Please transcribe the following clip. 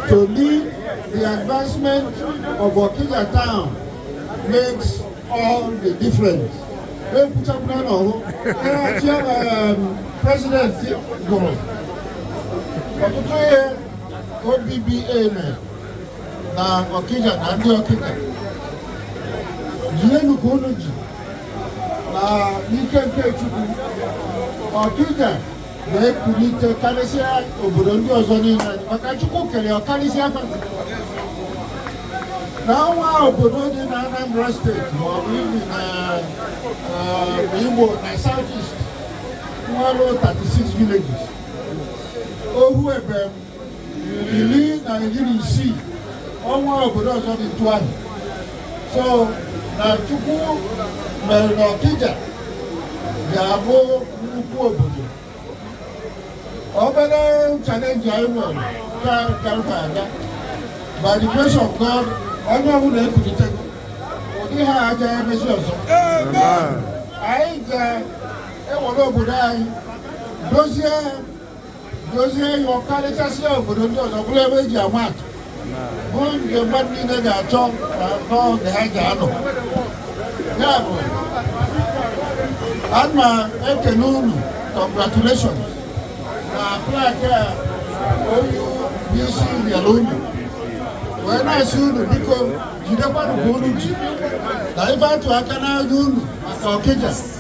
To me, the advancement of Okija town makes all the difference. ekwuchakwuna na ọhụ ịrachie president gụrụ ọtụtụ ihe OBBA mere na Okija na ndị Okija jienụ ka unu ji na n'ike nke Chukwu Okija na-ekulite karịsịa obodo ndị ọzọ niile maka Chukwu kere ya ọ karịsịa fa na o nwerọ obodo dị na Anambra state ma ọ bụ even na eh, Igbo na South East nwere 36 villages ohu ebe iri na iri na isii o nwerọ obodo ọzọ dị otu ahụ so na Chukwu mere na Okija ga-abụ nnukwu obodo obere challenge anyị nwere ka karịta aga by the grace of God onye ọbụla ekulitego ụdị ihe a aja emezi ọzọ anyị ga-ewere obodo anyị dozie dozie ya ọ karịchasịa obodo ndị ọzọ bụrụ ebe e ji ama atụ bụ nke mmadụ niile ga-achọ na n'oge ha ji anọ ya bụ a na-ekene unu congratulations na plaque a onye isi nyere unu wee na-asị unu biko jidekwanụ ka unu ji na ife atụ aka n'anya unu maka Okija